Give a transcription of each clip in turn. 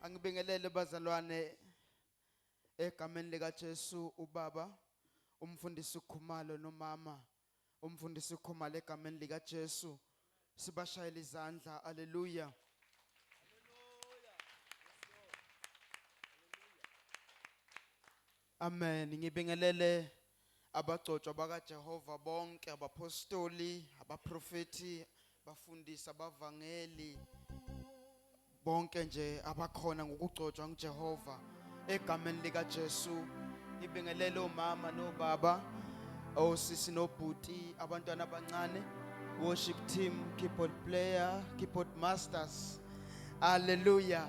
Angibingelele bazalwane egameni lika Jesu ubaba umfundisi uKhumalo nomama umfundisi uKhumalo egameni lika Jesu sibashayela izandla haleluya Amen. Ngibingelele abagcotshwa bakaJehova bonke abaphostoli, abaprofeti, bafundisa, bavangeli bonke nje abakhona ngokugcotshwa nguJehova egameni lika Jesu ngibingelele omama nobaba osisi nobhuti abantwana abancane worship team keyboard player keyboard masters hallelujah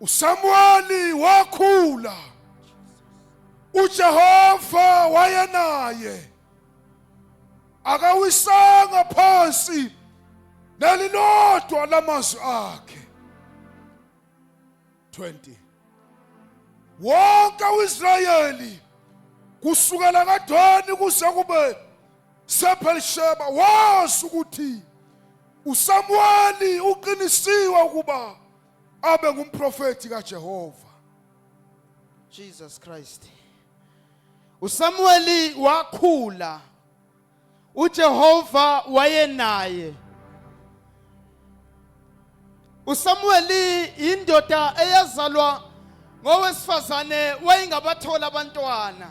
uSamuweli wakhula uJehova wayenaye akawisanga phansi nelilodwa lamazwi akhe 20 wonke uIsrayeli kusukela kadoni kuze kube Sephelisheba wazi ukuthi uSamuweli uqinisiwe ukuba abe ngumprofeti kaJehova. Jesus Christ. USamuweli wakhula. UJehova wayenaye. uSamuweli indoda eyazalwa ngowesifazane wayingabathola abantwana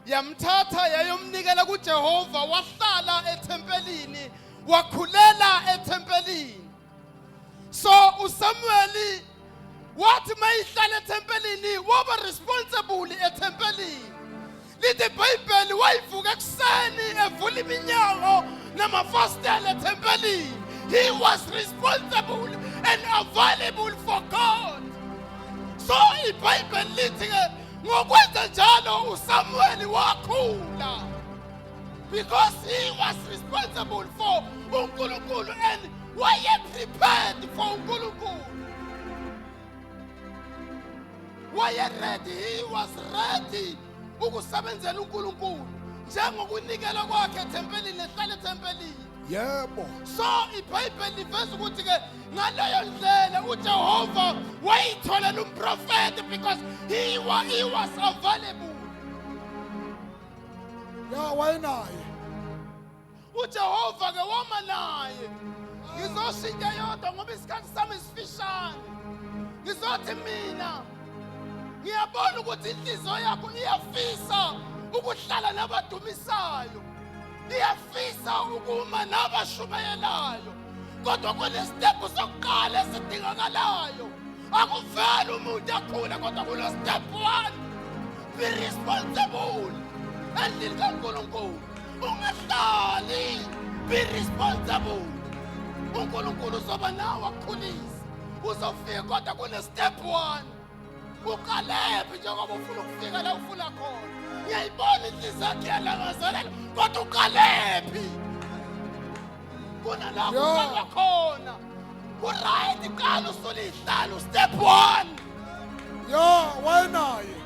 yamthatha yayomnikela kuJehova wahlala ethempelini wakhulela ethempelini so uSamuweli wathi mayihlala ethempelini waba responsible ethempelini lithi ibhayibheli wayivuka ekuseni evula iminyango namafasitela ethempelini he was responsible and available for god so ibhayibheli lithi-ke ngokwenza njalo usamuweli wakhula because he was responsible for unkulunkulu and wayeprepared for unkulunkulu wayeredi he was ready ukusebenzela uNkulunkulu njengokunikela kwakhe ethempelini ehlala ethempelini yebo so ibhayibheli liveza ukuthi ke ngaleyo ndlela ujehova wayitholela umprofethi because he was, he was available ya wayenaye ujehova-ke woma naye ngizosho into eyodwa ngoba isikhathi sami sifishane ngizothi mina ngiyabona ukuthi inhliziyo yakho iyafisa ukuhlala nabadumisayo iyafisa ukuma nabashumayelayo kodwa kunesitebhu sokuqala esidingakalayo akuveli umuntu akhule kodwa kulo step one be responsible endlini kankulunkulu ungahlali be responsible unkulunkulu uzoba nawe akukhulise uzofika kodwa kune-step one uqalephi njengoba ufuna ukufika la ufuna khona ngiyayibona inhliziyo yakhe yalangazelela kodwa uqalephi kunalapho Yo. uqala khona uright qala usulihlala ustep one yo wayenaye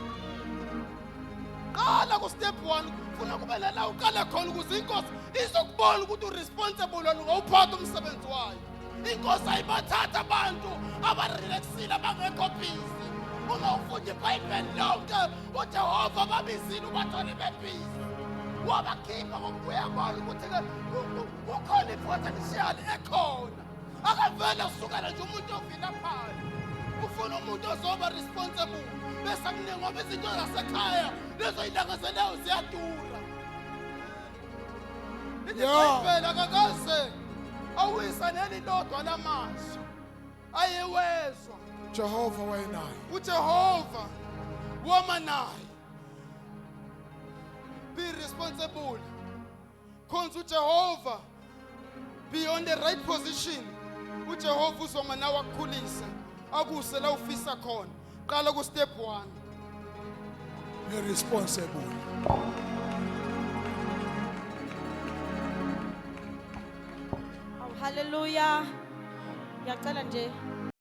qala ku-step one funa kube lana uqale khona ukuze inkosi izokubona ukuthi uresponsible wena ngawuphatha umsebenzi wayo inkosi ayibathatha abantu abarelaxile abangekho bhizi uma ufunda ibhayibheli lonke ujehova babizile ubathole bebhizi wabakhipha ngokubuya bona ukuthi-ke kukhona i-potential ekhona akavele usukela nje umuntu ovilaphayo ufuna umuntu ozoba responsible bese akuningi ngoba izinto zasekhaya lezo yintanga zenawo ziyadura iziphela kakaze awisa neli lodwa lamazwi ayewezwa jehova wayenaye ujehova wama naye be responsible khonza uJehova be on the right position uJehova uzoma nawe akukhulise akuse la ufisa khona qala ku step 1 you're responsible Hallelujah. Ngiyacela nje